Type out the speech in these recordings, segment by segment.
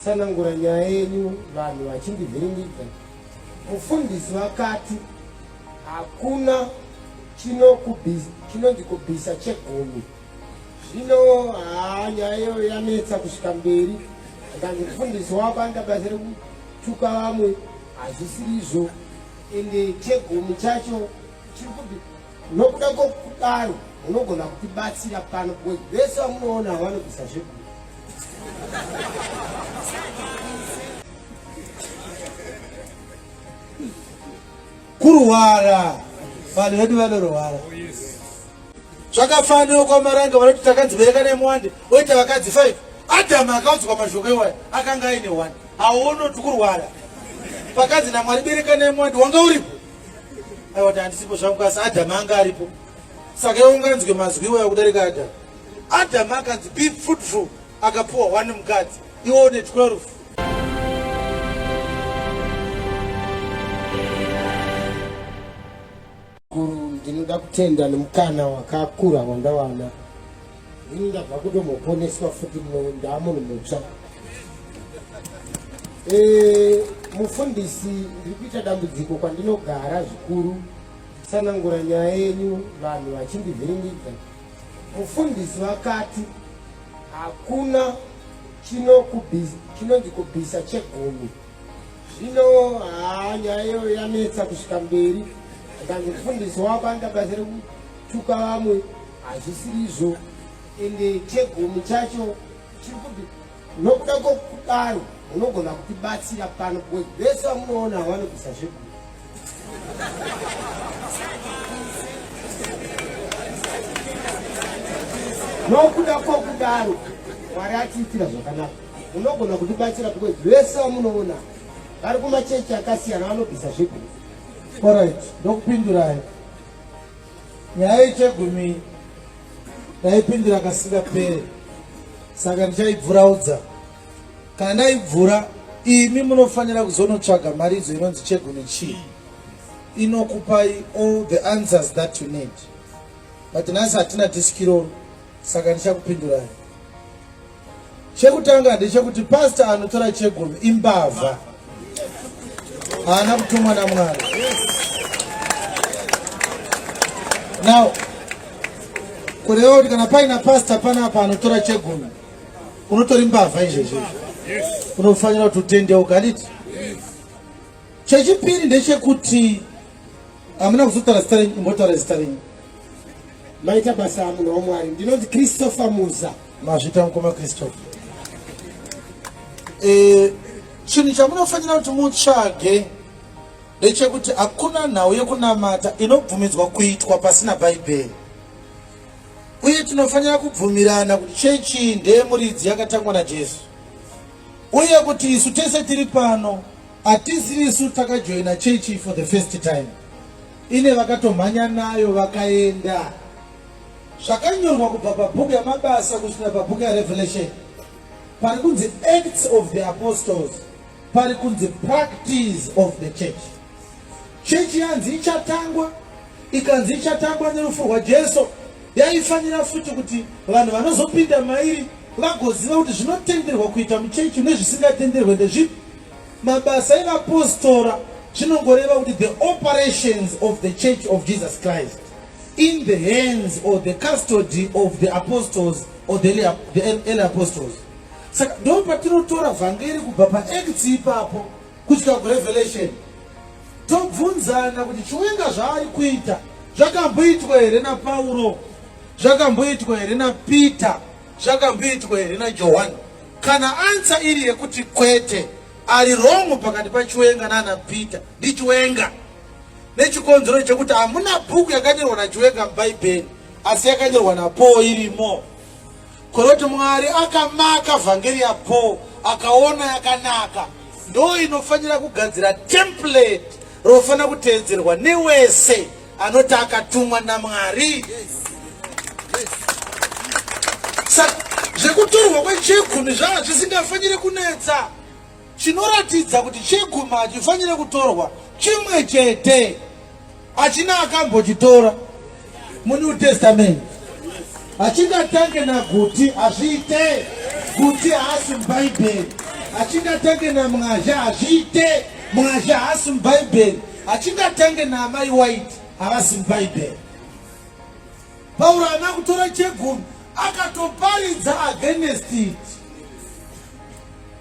Tsanangura nyaya yenyu vanhu vachindivhiringidza. Mufundisi vakati hakuna chinonzi kubvisa chegumi. Zvino haa nyaya iyoyo yanetsa kusvika mberi. Ndikanzi mufundisi wako anoita basa rekutuka vamwe hazvisiri izvo ende chegumi chacho chiri kuti nokuda kwokudaro unogona kutibatsira pano because vese vamunoona havanobvisa zvegumi kurwara vanhu vedu vanorwara zvakafanira kwamaranga vanoti takadzibereka nemwande oita vakadzi 5 adhamu akaudzwa mashoko iwaya akanga aine 1 haonoti kurwara vakadzi namwari bereka nemwande wanga uripo aiwati handisipo zvangu kasi adhamu anga aripo saka iwe unganzwe mazwi iwaya kudarika adhamu Adam akanzi be fruitful akapuwa one mukadzi iwo une 12 ndinoda kutenda nemukana wakakura wandawana ini ndabva kutomboponeswa futi ndaamunhu mutsva eh, mufundisi ndiri kuita dambudziko kwandinogara zvikuru sanangura nyaya yenyu vanhu vachindivhiringidza Mufundisi vakati hakuna chinonzi kubvisa chegumi zvino haa nyaya iyo yanetsa kusvika mberi akanzi mufundisi wako anoita basa rekutuka vamwe hazvisirizvo ende chegumi chacho chiri kuti Nokuda kwokudaro unogona kutibatsira pano because vese vamunoona havanobvisa zvekuti nokuda kwokudaro mwari atiitira zvakanaka unogona kutibatsira because vese vamunoona vari kumachechi akasiyana vanobvisa zvekuti orit ndokupindurai Nyaya yechegumi ndaipindira kasingapere, saka ndichaibvuraudza. Kana ndaibvura, imi munofanira kuzonotsvaga mharidzo inonzi chegumi chii inokupai all the answers that you need, but nhasi hatina diskiroro, saka ndichakupindurai. Chekutanga ndechekuti pastor anotora chegumi imbavha, haana kutumwa naMwari. Now kureva kuti kana paina pastor panapa anotora chegumi, unotori mbavha izvezvi, unofanira kuti utendeuka, handiti? Chechipiri ndechekuti hamuna kuzotaura zita renyu, imbotaura zita renyu. Maita basa munhu waMwari, ndinonzi Christopher Muza. Mazvita mukoma Christopher. Eh, chinhu chamunofanira kuti mutsvage ndechekuti hakuna nhau yekunamata inobvumidzwa kuitwa pasina bhaibheri uye tinofanira kubvumirana kuti chechi ndeyemuridzi yakatangwa najesu uye kuti isu tese tiri pano hatisi isu takajoina chechi for the first time ine vakatomhanya nayo vakaenda zvakanyorwa kubva pabhuku yamabasa kusvika pabhuku yarevelation pari kunzi acts of the apostles pari kunzi practice of the church chechi yanzi ichatangwa ikanzi ichatangwa nerufu rwajesu yaifanira futi kuti vanhu vanozopinda mairi vagoziva kuti zvinotenderwa kuita muchechi nezvisingatenderwe ndezvipi mabasa evapostora zvinongoreva kuti the operations of the church of jesus christ in the hands or the custody of the apostles or the early apostles saka ndo patinotora vhangeri kubva paacts ipapo kusvika kurevelation tobvunzana kuti chiwenga zvaari kuita zvakamboitwa here napauro zvakamboitwa here napeter zvakamboitwa here najohani kana ansa iri yekuti kwete ari rongo pakati pachiwenga nana peter ndichiwenga nechikonzero chekuti hamuna bhuku yakanyorwa nachiwenga mubhaibheri asi yakanyorwa napaul irimo koroti mwari akamaka vhangeri yapaul akaona yakanaka ndo inofanira kugadzira template rofanira kuteedzerwa newese anoti akatumwa namwari saka zvekutorwa kwechekhumi zvanga zvisingafanire kunetsa Chinoratidza kuti chegumi hachifanire kutorwa chimwe chete, hachina akambochitora muNew Testament. Hachingatange naguti, hazviite. Guti haasi muBhaibheri. Hachingatange namwazha, hazviite. Mwazha haasi muBhaibheri. Hachingatange naamai White, havasi muBhaibheri. Pauro haana kutora chegumi akatoparidza against it.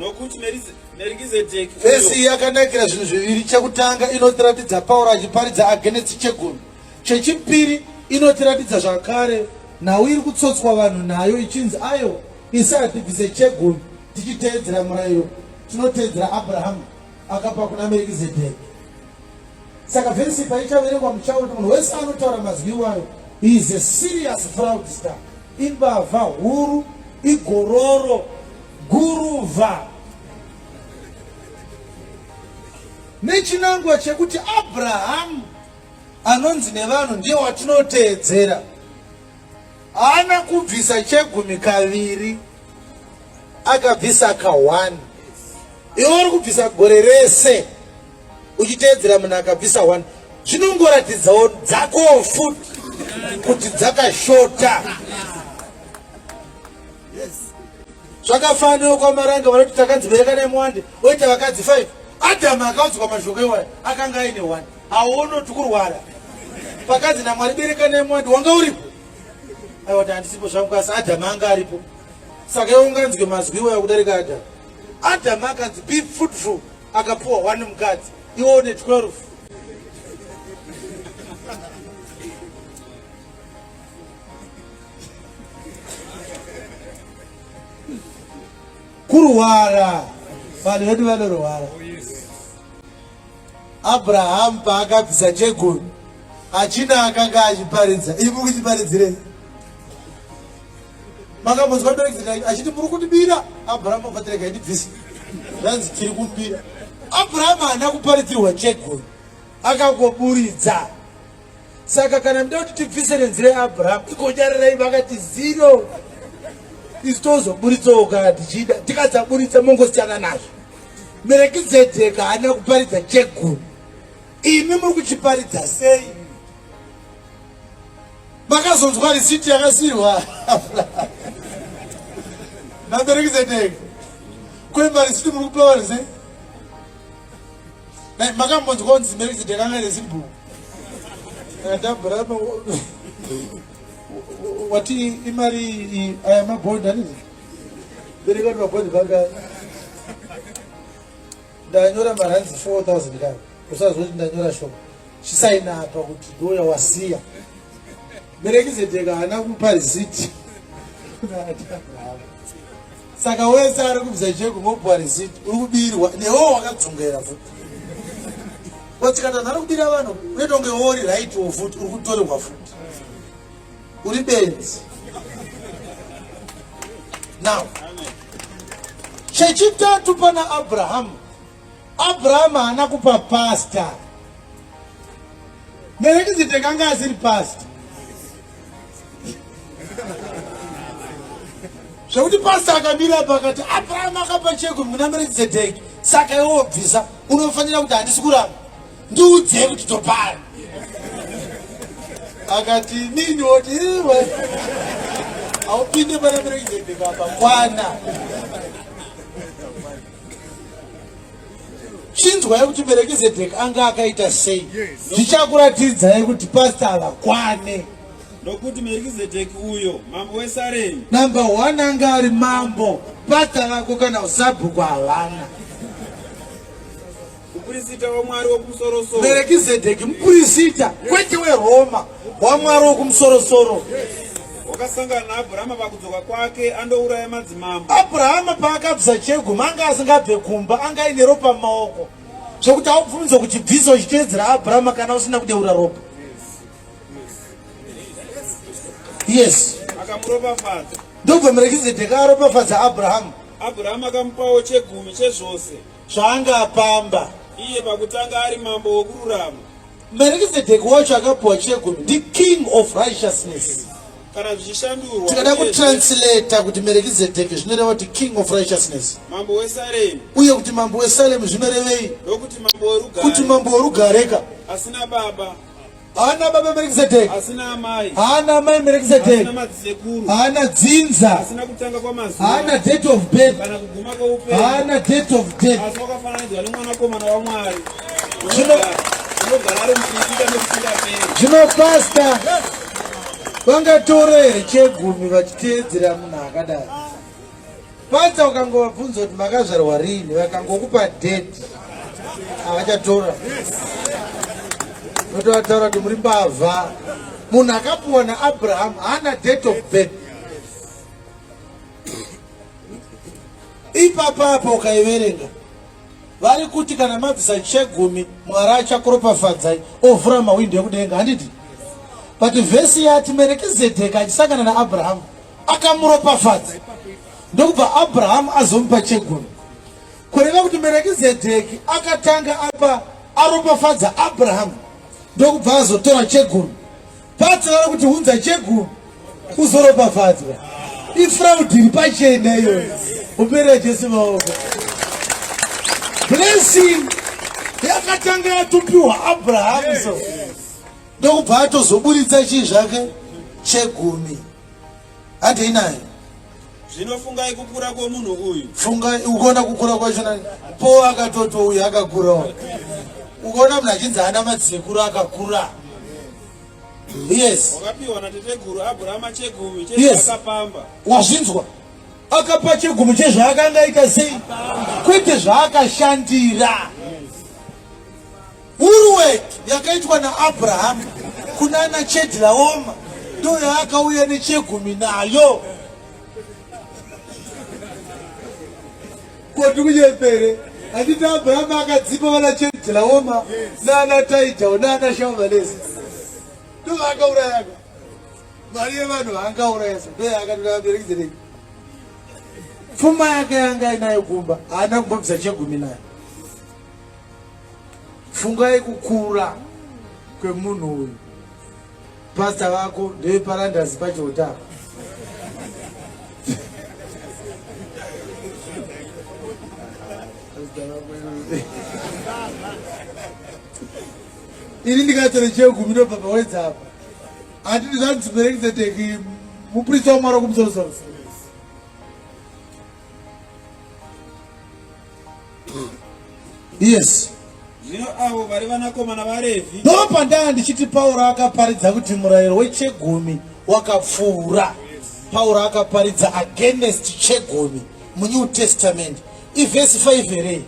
nokuti merikizedheki vhesi iyi yakanakira zvinhu zviviri chekutanga inotiratidza pauro achiparidza agenesi chegumi chechipiri inotiratidza zvakare nhau iri kutsotswa vanhu nayo ichinzi ayo isaya tibvise chegumi tichiteedzera murayiro tinoteedzera abrahamu akapa kuna merikizedheki saka vhesi paichaverengwa muchaona munhu wese anotaura mazwi iwayo is a serious fraud star imbavha huru igororo guruva nechinangwa chekuti abrahamu anonzi nevanhu ndiye watinoteedzera haana kubvisa chegumi kaviri akabvisa ka1 iwe uri kubvisa gore rese uchiteedzera munhu akabvisa one zvinongoratidzawo dzakowo futi kuti dzakashota zvakafanira kwamaranga vanoti takanzi bereka nemwande oita vakadzi five adhamu akaudzwa mashoko iwaya akanga aine one haunoti kurwara pakanzi namwari bereka nemwande wanga uripo aiwati handisipo zvangu kasi adhamu anga aripo saka iwe unganzwe mazwi iwaya kudarika adhamu adhamu akanzi be fruitful akapuwa one mukadzi iwo une 12 kurwara vanhu vedu vanorwara abrahamu paakabvisa chegoni achina akanga achiparidza imukuchiparidzirei makambonzwa director achiti muri kundibira abraham ofatirega indibvisa zvanzi tiri kumbira abraham haana kuparidzirwa chegoi akangoburidza saka kana mda kuti tibvise nenzira yeabraham ikonyarirai vakati zero isu tozoburitsawo kana tichida tikadzaburitsa mongosityana nazvo merekizedheka haana kuparidza chegoi imi muri kuchiparidza sei Makazonzwa risiti yakasirwa nabereki zeteke kwemba risiti muri kupewa rese makambonzwa kunzi bereki zeteke anga resibhuku ndabhurama wati imari iyi aya mabhondi anizi bereki vati mabhondi baka ndanyora maranzi 4000 kani usazoti ndanyora shoma chisaina apa kuti ndoya wasiya merekizedheka haana kupa riziti saka wese ari kubvisa cheko mopuwa riziti uri kubirwa newo wakadzongera futi watsikatana ari kubira vanhu unetonge wori raitiwo futi uri kutorerwa futi uri benzi now chechitatu pana abrahamu Abrahama haana kupa pasta Merekizite kanga asiri pasta zvekuti pasta akamira apa akati Abrahama akapa cheko muna Merekizedeki saka iwe wobvisa unofanira kuti handisi kuramba ndiudzei kuti topara akati nini woti iwe haupinde pana Merekizedeki apa kwana chinzwai kuti merekizedheki anga akaita sei zvichakuratidzai kuti pasta havakwane nokuti merekizedheki uyo mambo wesaremi namba one anga ari mambo pasta vako kana usabhuku havana Mupurisita waMwari wokumusorosoro. Merekizedheki mupurisita kwete weRoma waMwari wokumusorosoro. Wakasangana naAbrahama pakudzoka kwake andouraya madzimambo. Abrahama paakabvisa cheguma anga asingabve kumba anga aine ropa mumaoko zvekuti aubvunzo kuti bvisa uchiteedzera Abrahama kana usina kudeura ropa. Yes. Akamuropafadza. Ndobva Merekizedheki aropafadza Abrahama. Abrahama akamupawo chegumi chezvose. zvaanga apamba iye pakutanga ari mambo wokururama. Merikizedheki wacho akapiwa chegumi ndi king of righteousness. Kana zvichishandurwa tikada kutranslata kuti Merikizedheki zvinoreva kuti king of righteousness, mambo weSalemu, uye kuti mambo weSalemu zvinorevei? Ndokuti mambo werugare, kuti mambo werugareka asina baba haana baba merekizedheki haana amai merekizedheki haana dzinza haana date of birth haana date of death zvino pasta vangatora here chegumi vachiteedzera munhu akadai Panza ukangovabvunza kuti makazvarwa rini vakangokupa date havachatora notovataura kuti muri mbavha munhu akapuwa naabraham haana date of birth ipapa apa ukaiverenga vari kuti kana mabvisa chegumi mwari achakuropafadzai ovhura mahwindo ekudenga handiti but vhesi yati merekizedheka achisangana naabrahamu akamuropafadza ndokubva abrahamu azomupa chegumi kureva kuti merekizedheki akatanga apa aropafadza abrahamu ndokubva azotora chegumi patsara kuti unza chegumi uzoropafadzwa ifraud iri pachena iyoyo uperera jesu maoko blessing yakatanga yatupiwa abrahamu so ndokubva atozoburitsa chii zvake chegumi handei naye zvino fungai kukura kwomunhu uyu fungai ukaona kukura kwacho nani po akatoti uyu akakurawo ukaona munhu achinzi ana madzisekuru akakura yes wakapiwa nateteguru abrahama chegumi chezvaakapamba yes. wazvinzwa akapa chegumi chezvaakanga aita sei kwete zvaakashandira yes. Uruwe yakaitwa naAbrahamu kunana Chedlaoma ndo yaakauya nechegumi nayo koti kunyepere handiti abrahamu akadzipa vana chedlaoma naana taidhao naana shamalesi ndo vaakaurayaka mari yevanhu vaangaurayasa ndo yaakatoda vaberekidzerei pfuma yake yanga inayo kumba haana kumbobvisa chegumi nayo Fungai kukura kwemunhu uyu. Pastor vako ndeve parandazi pachota apa. Ini ndikatora chegumi ndobva pawedza apa. Handiti zvanzi Merekizedeki muprista wamwari wekumusoro soro. yes zvino avo vari vanakomana varevi ndo pandanga ndichiti pauro akaparidza kuti murayiro wechegumi wakapfuura pauro akaparidza against chegumi munew testament ivhesi 5 here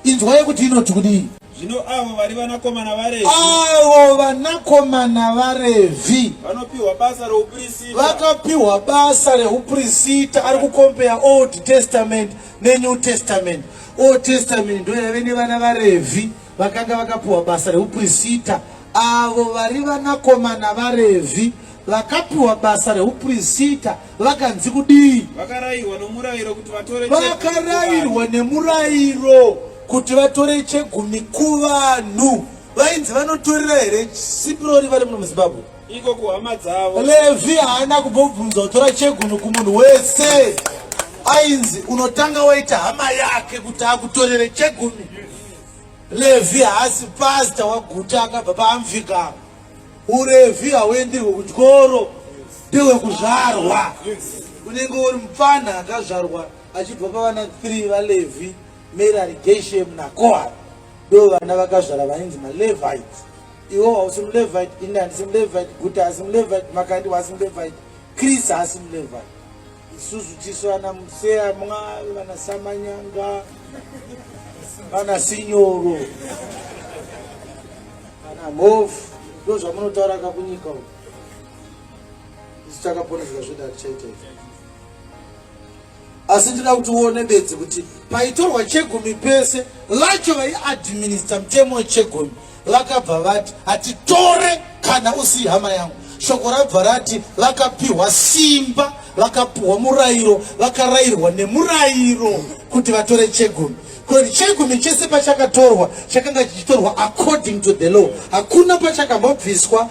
inzwai kuti inoti kudii zvino avo vari vanakomana varevi avo vanakomana varevi vanopiwa basa reuprista vakapiwa basa reuprisita ari kukombeya old testament neNew Testament. Old Testament ndo yave nevana vaRevhi vakanga vakapiwa basa reuprisita, avo vari vanakomana vaRevhi vakapiwa basa reuprisita vakanzi kudii? Vakarairwa nemurayiro kuti vatore vakarairwa nemurayiro kuti vatore chegumi kuvanhu. Vainzi vanotorera here sipirori vari muno muZimbabwe? iko kuhama dzavo levi haana kumbobvunza kutora chegumi kumunhu wese ainzi unotanga waita hama yake kuti akutorere chegumi levi haasi pasta waguta akabva paamvika urevi hauendirwe kutyoro ndewekuzvarwa unenge uri mupfanha akazvarwa achibva pavana three valevi merari geshem nakohar ndo vana vakazvara vainzi malevites iwo hausi mulevite ini handisi mulevite guti haasi mulevite makandi waasi mulevite chris haasi mulevite isusu tisu vana museyamwa vana samanyanga vana sinyoro vana mhofu ndo zvamunotaura kakunyika u isu takaponeseka zvedatichaita izvi asi ndida kuti uone bedzi kuti paitorwa chegumi pese lacho vaiadminista mutemo wechegumi vakabva vati hatitore kana usi hama yangu shoko rabva rati vakapiwa simba vakapiwa murayiro vakarayirwa nemurayiro kuti vatore chegumi kuti chegumi chese pachakatorwa chakanga chichitorwa according to the law hakuna pachakambobviswa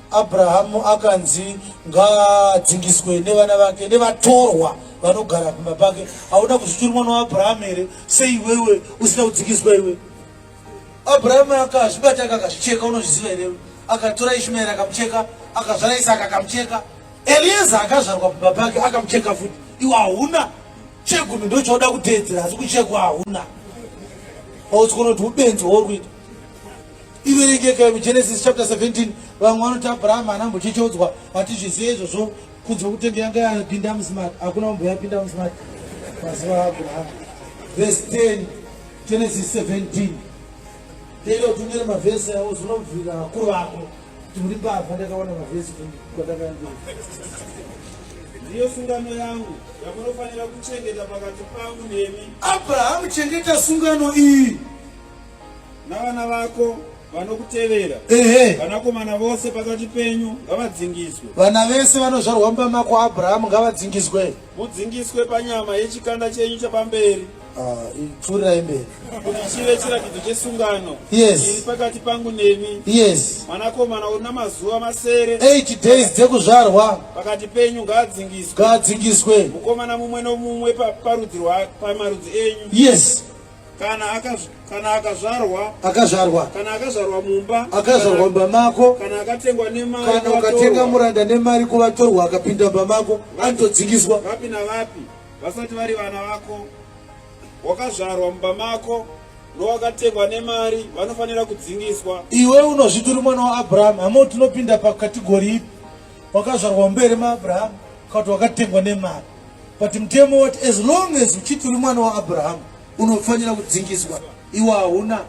Abrahamu akanzi ngaadzingiswe nevana vake nevatorwa vanogara kumba pake. Hauna kuzviti uri mwana waAbrahamu here? Sei iwewe usina kudzingiswa iwe? Abrahamu akazvibata akazvicheka, unozviziva here? Akatora Ishumaeri akamucheka, akazvara Isaka akamucheka, Elieza akazvarwa kumba pake akamucheka futi. Iwe hauna chegumi ndochoda kuteedzera asi kuchekwa hauna. Pautsikono kuti ubenzi hwauri kuita. iverengekai mugenesis chapter 17 vamwe vanoti abraham haana mbochecheudzwa hatizvizive izvozvo kunzwa kutenge yanga yapinda musmart hakuna umbo yapinda musmart mazuva aabraham vese 10 genesis 17 tenda kuti unyere mavhesi avo zvinobvira vakuru vako kuti muri mbavha ndakaona mavhesi kwandakaambira ndiyo sungano yangu yamunofanira kuchengeta pakati pangu nemi abrahamu chengeta sungano iyi navana vako vanokutevera ehe vanakomana vose pakati penyu ngavadzingiswe vana vese vanozvarwa mumba mako abrahamu ngavadzingiswe mudzingiswe panyama yechikanda chenyu chapamberi Ah, pfuurirai mberi kuti chive chiratidzo chesungano yes iri pakati pangu nemi yes mwanakomana una mazuva masere 8 days dzekuzvarwa pakati penyu ngaadzingiswe ngaadzingiswe mukomana mumwe nomumwe pa- parudzi rwa- pamarudzi enyu yes kana akaz, kana akazvarwa akazvarwa kana akazvarwa mumba akazvarwa mumba mako kana akatengwa nemari kana ukatenga muranda nemari kuvatorwa akapinda mumba mako anotodzingiswa vapi navapi vasati vari vana vako wakazvarwa mumba mako nowakatengwa nemari vanofanira kudzingiswa iwe unozviti uri mwana waabrahamu hamo tinopinda pakategori ipi wakazvarwa mumba ere maabrahamu kakuti wakatengwa nemari but mutemo wati as long as uchiti uri mwana waabrahamu unofanira kudzingiswa iwe hauna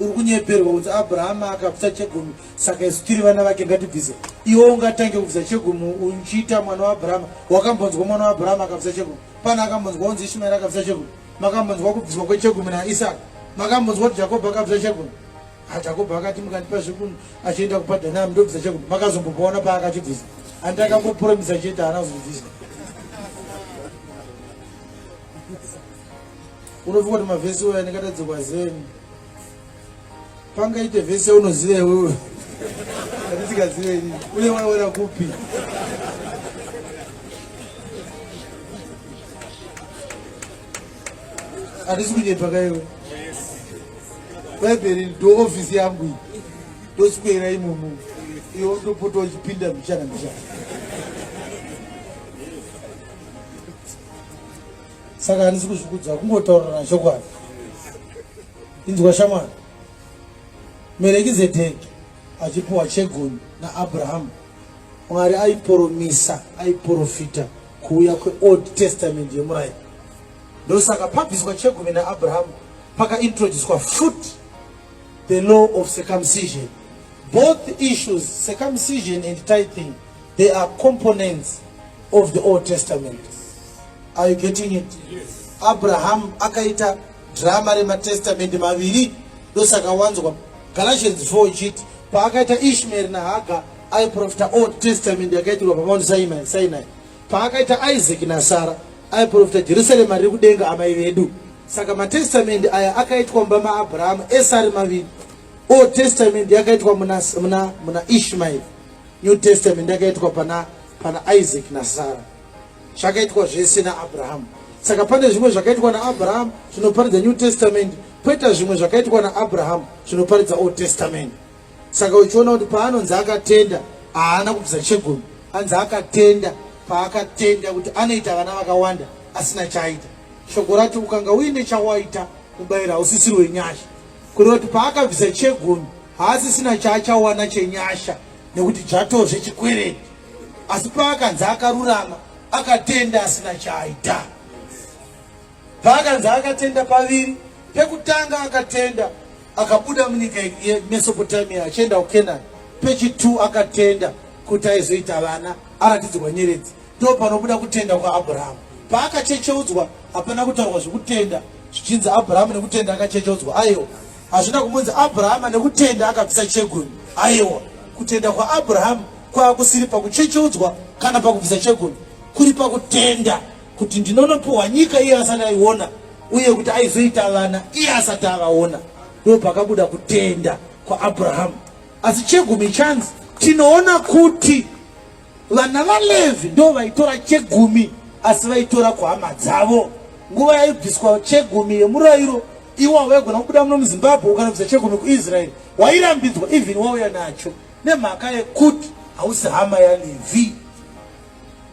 uri kunyeperwa kunzi abrahamu akabvisa chegumi saka isu tiri vana vake ngatibvise iwe ungatange kubvisa chegumi uchiita mwana waabrahamu wakambonzwa mwana waabrahamu akabvisa chegumi pana akambonzwa unzi ishimaeri akabvisa chegumi makambonzwa kubviswa kwechegumi naisaka makambonzwa kuti jakobho akabvisa chegumi Jakobo akati mukandipa zvekunhu achienda kupadanam ndobvisa chekunhu makazombopaona paakachibvisa handi akambopromisa chete haana kuzobvisa unofunga kuti mavhesi oya ndingatadzikwa zeni pangaite vhesi yaunoziva iwewe andisikazive ini uye waiona kupi Atisi kunyepa kaiwe. Bhaibheri ndo office yangu iyi. Ndoswera imomo. Iyo ndopota uchipinda mishana mishana. Saka handisi kuzvikudza kungotaurirana chokwadi. Inzwa shamwari. Merekizedheki achipiwa chegoni naAbrahamu. Mwari aiporomisa, aiporofita kuuya kweold testament yemurairo ndosaka pabviswa chegumi naabrahamu pakaintroducwa foot the law of circumcision both issues circumcision and tithing they are components of the old testament are you getting it yes. abrahamu akaita drama rematestament maviri ndosaka wanzwa galatians 4 ichiti paakaita ishmaeri nahaga aiprofita old testament yakaitirwa pamount sinai sinai paakaita isaac nasara aiprofita jerusarema riri kudenga amai vedu saka matestamendi aya akaitwa mumba maabrahama ese ari maviri old testament yakaitwa muna, muna, muna ishmael new testament yakaitwa pana, pana isaac nasara zvakaitwa zvese naabrahamu saka pane zvimwe zvakaitwa naabrahamu zvinoparidza new testament poita zvimwe zvakaitwa naabrahamu zvinoparidza old testament Saka uchiona kuti paanonzi akatenda haana kubvisa chegumi, anzi akatenda paakatenda kuti anoita vana vakawanda asina chaaita. Shoko rati ukanga uine chawaita mubayiro hausisiri wenyasha, kureva kuti paakabvisa chegumi haasisina chaachawana chenyasha nekuti dzvatozve chikwereti, asi paakanzi akarurama akatenda asina chaaita. Paakanzi akatenda paviri, pekutanga akatenda akabuda munyika yemesopotamia achienda kukenani pechitu akatenda kuti aizoita vana aratidzirwa nyeredzi ndo panobuda kutenda kwaabhurahamu paakachecheudzwa hapana kutaurwa zvekutenda zvichinzi abhurahamu nekutenda akachecheudzwa aiwa hazvina kumbunzi abhurahama nekutenda akabvisa chegumi aiwa kutenda kwaabhurahamu kwava kusiri pakuchecheudzwa kana pakubvisa chegumi kuri pakutenda kuti ndinonopiwa nyika iye asati aiona uye kuti aizoita vana iye asati avaona ndo pakabuda kutenda kwaabrahamu asi chegumi chanzi tinoona kuti vana valevhi ndo vaitora chegumi asi vaitora kuhama dzavo nguva yaibviswa chegumi yemurayiro iwa waigona kubuda muno muzimbabwe ukanobvisa chegumi kuisraeri wairambidzwa even wauya nacho nemhaka yekuti hausi hama yalevi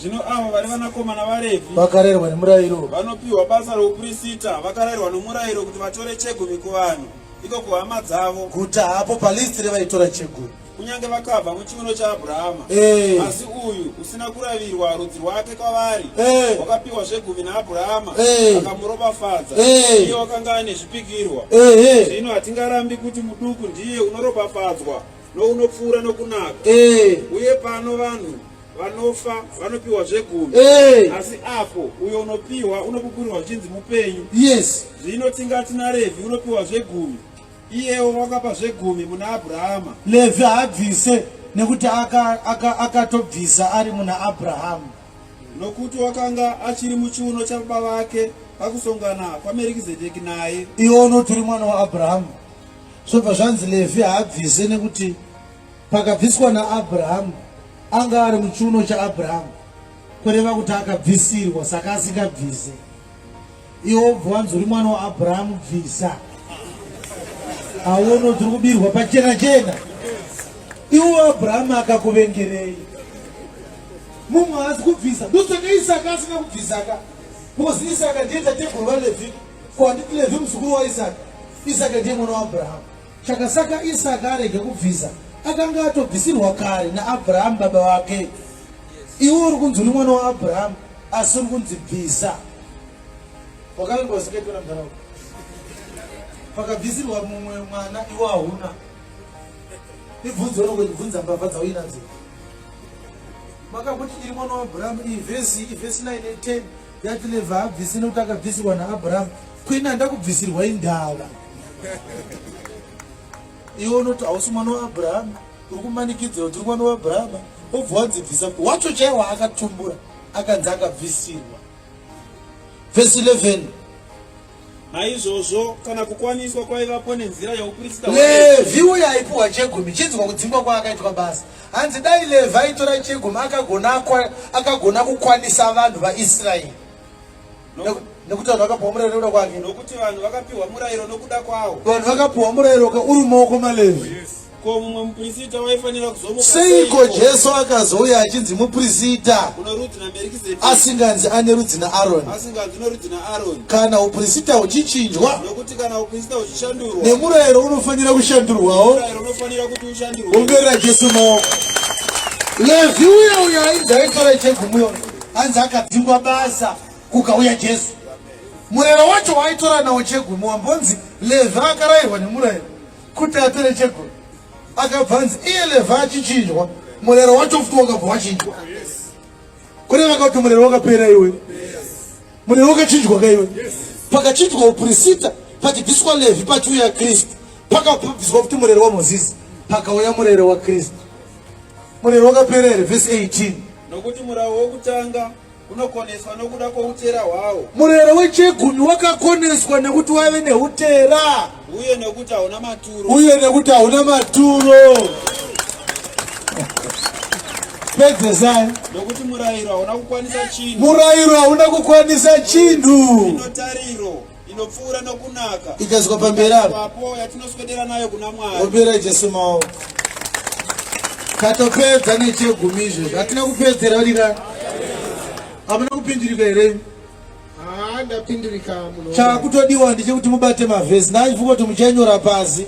Zvino avo vari vanakomana vaRevhi vakarerwa nemurayiro vanopiwa basa rouprisita vakarerwa nomurayiro kuti vatore chegumi kuvanhu iko kuhama dzavo guta hapo palisti revaitora chegumi kunyange vakabva muchiuno chaabhurahama eh. asi uyu usina kuravirwa rudzi rwake kwavari eh. wakapiwa zvegumi naabhurahama eh. akamuropafadza iye wakanga ane zvipikirwa zvino hatingarambi kuti muduku ndiye unoropafadzwa nounopfuura nokunaka uye pano vanhu vanofa vanopiwa zvegumi hey. Eh. asi apo uyo unopiwa unopupurirwa zvichinzi mupenyu yes zvino tingati narevi unopiwa zvegumi iyewo wakapa zvegumi muna abrahama levi haabvise nekuti akatobvisa aka, aka ari muna abrahamu nokuti wakanga achiri muchiuno chababa vake pakusongana kwamerikizedeki naye iwo unoti uri mwana waabrahamu zvobva zvanzi levi haabvise nekuti Pakabviswa naAbrahamu, anga ari muchiuno chaAbrahamu, kureva kuti akabvisirwa, saka asingabvise. Iwo obva wanzi uri mwana waAbrahamu, bvisa. Aono tiri kubirwa pachena chena. Iwo Abrahamu akakuvengerei? Mumwe haasi kubvisa, ndosaka Isaka asina kubvisaka. Because Isaka ndiye tateguru vaLevhi, ko handiti Levhi muzukuru waIsaka? Isaka ndiye mwana waAbrahamu. Chakasaka Isaka arege kubvisa, akanga atobvisirwa kare naAbrahamu baba wake. Iwe uri kunzi uri mwana waAbrahamu, asi uri kunzi bvisa. Wakaverwa zikaitwa namdharawo pakabvisirwa mumwe mwana iwo hauna ibvunzo rongoibvunza mbavha dzauinadzo makakuti iri mwana waabhurahamu iyi vhesi ivhesi 9 10 That level haabvisi nekuti akabvisirwa naAbraham. Queen handa kubvisirwa indava. Iwe unoti hausi mwana waAbraham, uri kumanikidzira kuti uri mwana waAbraham, obva wanzi bvisa wacho chaiye waakatumbura akanzi akabvisirwa. Verse 11. naizvozvo kana kukwaniswa kwaivapo nenzira yauprista levhi uye aipiwa chegumi chinzwa kudzingwa kwaakaitwa basa hanzi dai levhi aitora chegumi akagona kukwanisa vanhu vaisraeri nekuti vanhu vakapiwa murayiro nekuda kwake nokuti vanhu vakapiwa murayiro nokuda kwawo vanhu vakapiwa murayiro uri maoko malevhi yes. Ko mumwe muprista waifanira kuzomuka seiko jesu akazouya achinzi muprista asinganzi ane rudzi naaroni kana uprista huchichinjwa nemurayiro unofanira kushandurwawo umberera jesu maoko levhi uya uya ainzi aifara chegumuyo anzi akadzingwa basa kukauya jesu murayiro wacho waaitora nawo chegumi wambonzi levhi akarayirwa nemurayiro kuti apere cheko akabva anzi iye levha achichinjwa murero wacho futi wakabva wachinjwa kune vanga kuti murero wakapera iwe murero wakachinjwa ka iwe pakachinjwa uprisita pachibviswa levhi pachiuya kristu pakabviswa kuti murero wamozisi pakauya murero wakristu murero wakapera here vhesi 18 nokuti murau wokutanga Unokoneswa nokuda kwoutera hwawo. Murero wechegumi wakakoneswa nekuti waive neutera. Uye nekuti hauna maturo. Uye nekuti hauna maturo. Pedzesai. Nokuti murayiro hauna kukwanisa chinhu. Murayiro hauna kukwanisa chinhu. Inotariro. inopfuura nokunaka ikaiswa pamberi apo yatinoswedera nayo kuna mwari opera jesu maoko katopedza nechegumi izvezvi hatina kupedzera rika hamuna kupindirika here chakutodiwa ndichekuti mubate mavhesi naivuka kuti muchanyora pasi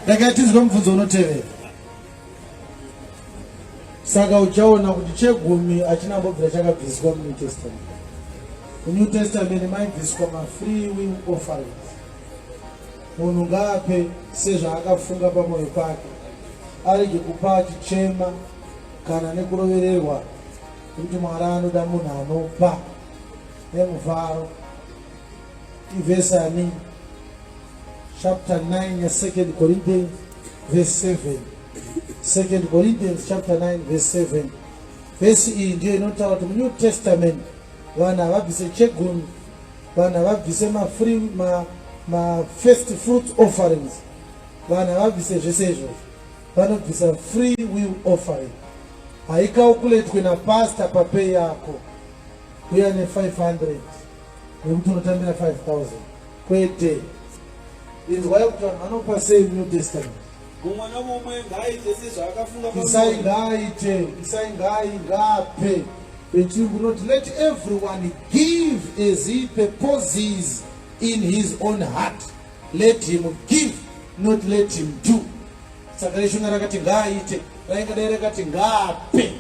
ndakatizwa mubvunzo unotevera saka uchaona kuti chegumi hachina mbobvira chakabviswa munew testament munew testament maibviswa mafree will offerings munhu ngaape sezvaakafunga pamwoyo pake arege kupa achichema kana nekurovererwa kuti mwari anoda munhu anopa nemufaro ivhesani chapter 9 yesecond corinthians verse 7 second corinthians chapter 9 verse 7 vhesi iyi ndiyo inotaura kuti munew testament vanhu havabvise chegumi vanhu havabvise mafree ma, ma first fruit offerings vanhu havabvise zvese izvozvo vanobvisa free will offering haikaukuletwe napasta papei yako uya ne 500 nekuti unotambira 5000 kwete inzwa yekuti vanhu vanopa sei new testament mumwe nomumwe ngaaite sezvaakafunga isai ngaaite isai ngai ngaape vechirungu not let everyone give as he purposes in his own heart let him give not let him do saka reshona rakati ngaaite rainga dai rakati ngaape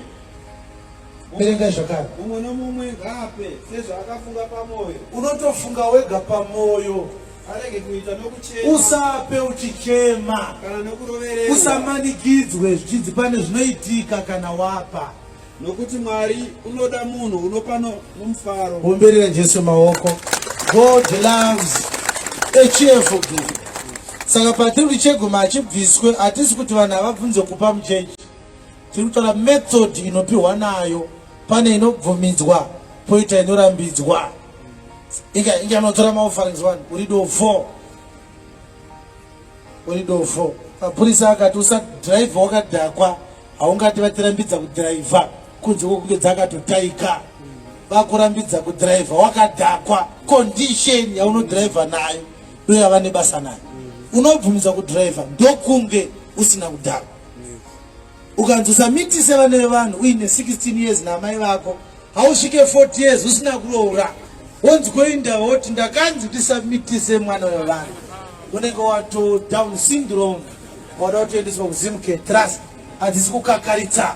verengai zvakare mumwe nomumwe ngaape sezvaakafunga pamwoyo unotofunga wega pamwoyo arege kuita nokuchema usape uchichema kana nokurovererwa usamanikidzwe zvichinzi pane zvinoitika kana wapa nokuti mwari unoda munhu unopa nomufaro omberera jesu maoko god loves a cheerful giver saka patiri kuti cheguma achibviswe hatisi kuti vanhu havabvunze kupa muchechi Tiri kutaura method inopiwa nayo pane inobvumidzwa poita inorambidzwa. Inga inga anotora maofferings one uri do four. Uri do four. Mapurisa akati usa drive wakadhakwa haungati vatirambidza kudhiraivha kunze kwokunge dzakatotaika vakurambidza kudhiraivha wakadhakwa condition yaunodhiraivha nayo ndoyava nebasa nayo unobvumidza kudhiraivha ndokunge usina kudhakwa ukanzi usamitise vana vevanhu uine 16 years naamai vako hausvike 40 years usina kuroora wonzi koinda woti ndakanzi ndisamitise mwana wevanhu unenge wato down syndrome wada kutoendeswa kuzimke trust hadzisi kukakaritsa